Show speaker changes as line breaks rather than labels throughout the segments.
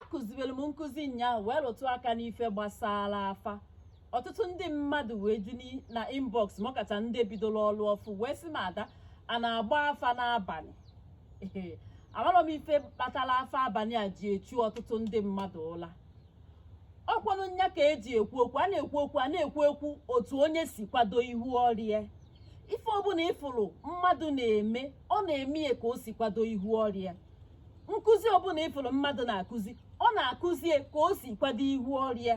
akụzibere m nkụzi nyaa wee rụtụ aka n'ife gbasara afa ọtụtụ ndị mmadụ wee ju na inbox ma ọ kacha ndị bidoro ọrụ ọfụ wee sị m ada a na-agba afa n'abalị amarọ m ife kpatara afa abalị a ji echu ọtụtụ ndị mmadụ ụla ọkwanụ nya ka eji ekwu okwu a na-ekwu okwu a na-ekwu ekwu otu onye si kwado ihu ọrụ ya ife ọbụla ị fụrụ mmadụ na-eme ọ na-eme ya ka o si kwado ihu ọrụ ya nkụzi ọbụla ị fụrụ mmadụ na-akụzi ọ na-akụzi ya ka o si kwado ihu ọrụ ya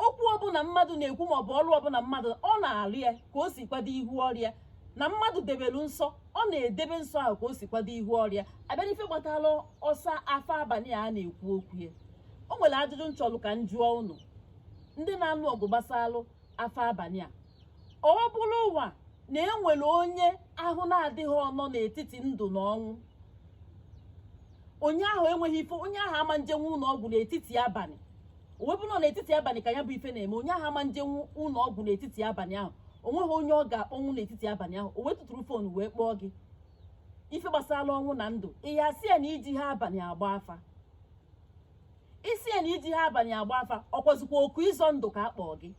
okwu ọbụla mmadụ na-ekwu ma ọ bụ ọrụ ọbụla mmadụ ọ na-arụ ya ka o si kwado ihu ọrụ ya na mmadụ debere nsọ ọ na-edebe nsọ ahụ ka o si kwado ihu ọrụ ya a bịa n'ife gbatara ọsa afa abalị a na-ekwu okwu ya o nwere ajụjụ m chọlụ ka m jụọ ụnụ ndị na-anụ ọgụ gbasalụ afa abalị a ọ bụrụwa na e nwere onye ahụ na-adịghị ọ nọ n'etiti ndụ na ọnwụ onye ahụ enweghị ife onye ahụ ama njenwu ụlọ ọgwụ n'etiti abalị o wee bụrụ n'etiti abalị ka ya bụ ife na-eme onye ahụ ama njenwu ụlọ ọgwụ n'etiti abalị ahụ o nweghị onye ọ ga-akpọnwụ n'etiti abalị ahụ o wee tụtụrụ phone wee kpọọ gị ife gbasara ọnwụ na ndụ ị ya-asị ya na ejiha abalị agba afa ị sị ya na ejiha abalị agba afa ọkwazikwa oku ịzọ ndụ ka a kpọọ gị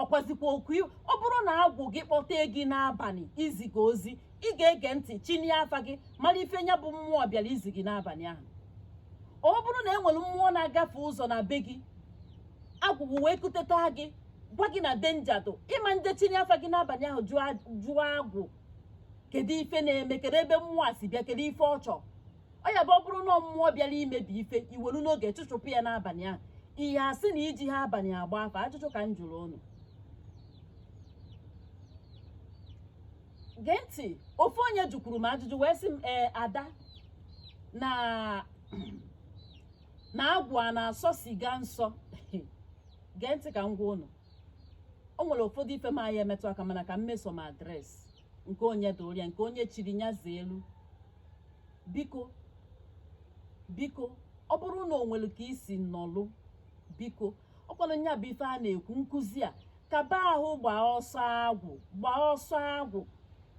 ọkwazikwa oku i- ọ bụrụ na agwụ gị kpọtee gị n'abalị izi gị ozi ị ga-ege ntị chinie afa gị mara ife nya bụ mmụọ bịara izi gị n'abalị ahụ ọ bụrụ na e nwere mmụọ na-agafe ụzọ na be gị agwụ gị wee kuteta gị gwa gị na danger dụ ị ma nje chinie afa gị n'abalị ahụ jụọ a- jụọ agwụ kedu ife na-eme kedu ebe mmụọ a si bịa kedu ife ọ chọrọ ọ ya-abụ ọ bụrụ na mmụọ bịara imebi ife i welu n'oge chụchụpụ ya n'abalị ahụ ị ya-asị na ejiha abalị agba afa ajụjụ ka m jụrụ ụnụ gee ntị ofu onye jụkwuru m ajụjụ wee sị m ee ada na na agwụ a na-asọ siga nsọ gee ntị ka m gwa ụnụ o nwere ụfọdụ ife m anya emetụ aka mana ka m meso m address nke onye dịrị ya nke onye chiri nya zelu biko biko ọ bụrụ na o nwere ka i si nọlụ biko ọkwanụ nya bụ ife a na-ekwu nkụzi a kaba ahụ gbaa ọsọ agwụ gbaa ọsọ agwụ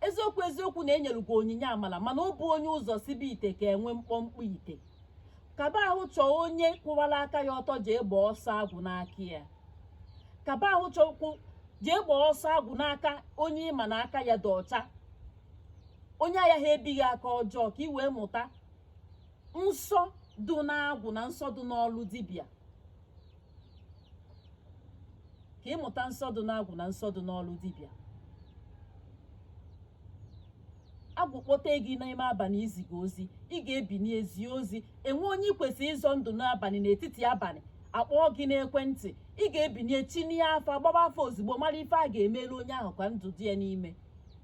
eziokwu eziokwu na e nyelu gị onyinye amala mana ọ bụ onye ụzọ sibe ite ka enwe mkpọmkpọ ite kaba ahụ chọọ onye kwụwara aka ya ọtọ jee gbaa ọsọ agwụ n'aka ya kaba ahụ chọkwu jee gbaa ọsọ agwụ n'aka onye ị ma na aka ya dị ọcha onye ayaha ebi gị aka ọjọọ ka ị wee mụta nsọ dị n'agwụ na nsọ dị n'ọlụ dibịa ka ị mụta nsọ dị n'agwụ na nsọ dị n'ọlụ dibịa agwụ kpọte gị n'ime abalị iziga ozi ị ga-ebinie zie ozi e nwee onye ị kwesịrị ịzọ ndụ n'abalị n'etiti abalị a kpọọ gị n'ekwentị ị ga-ebinie chinie afa gbaba afa ozugbo mara ife a ga-emelu onye ahụ ka ndụ dị ya n'ime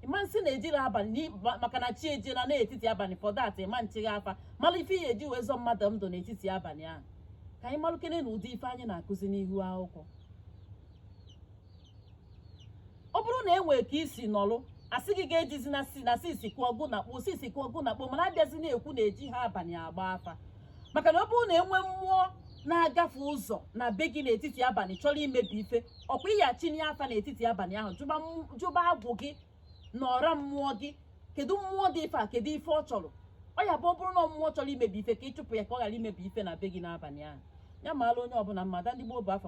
ị ma sị na ejirọ abalị n'i- ma- maka na chi ejiela n'etiti abalị for that ị ma nchịghị afa mara ife ihe e ji wee zọ mmadụ ndụ n'etiti abalị ahụ ka anyị malụkene na ụdị ife anyị na-akụzi n'ihu akwụkwọ ọ bụrụ na e nwee ka i si nọrụ a sị gị ga-ejizi na si na sisi kụọ ọgụ na kpoo sisi kụọ ọgụ na kpoo mana a bịazi na-ekwu na ejihọ abalị agba afa maka na ọ bụrụ na e nwee mmụọ na-agafe ụzọ na be gị n'etiti abalị chọrọ imebi ife ọkwa ị ya-achinie afa n'etiti abalị ahụ jụba m- jụba agwụ gị na ọra mmụọ gị kedu mmụọ dị ife a kedu ife ọ chọrọ ọ ya bụ ọ bụrụ na mmụọ chọrọ imebi ife ka ị chụpụ ya ka ọ ghara imebi ife na be gị n'abalị ahụ ya maara onye ọbụla mmadụ ndị gboo bụ afa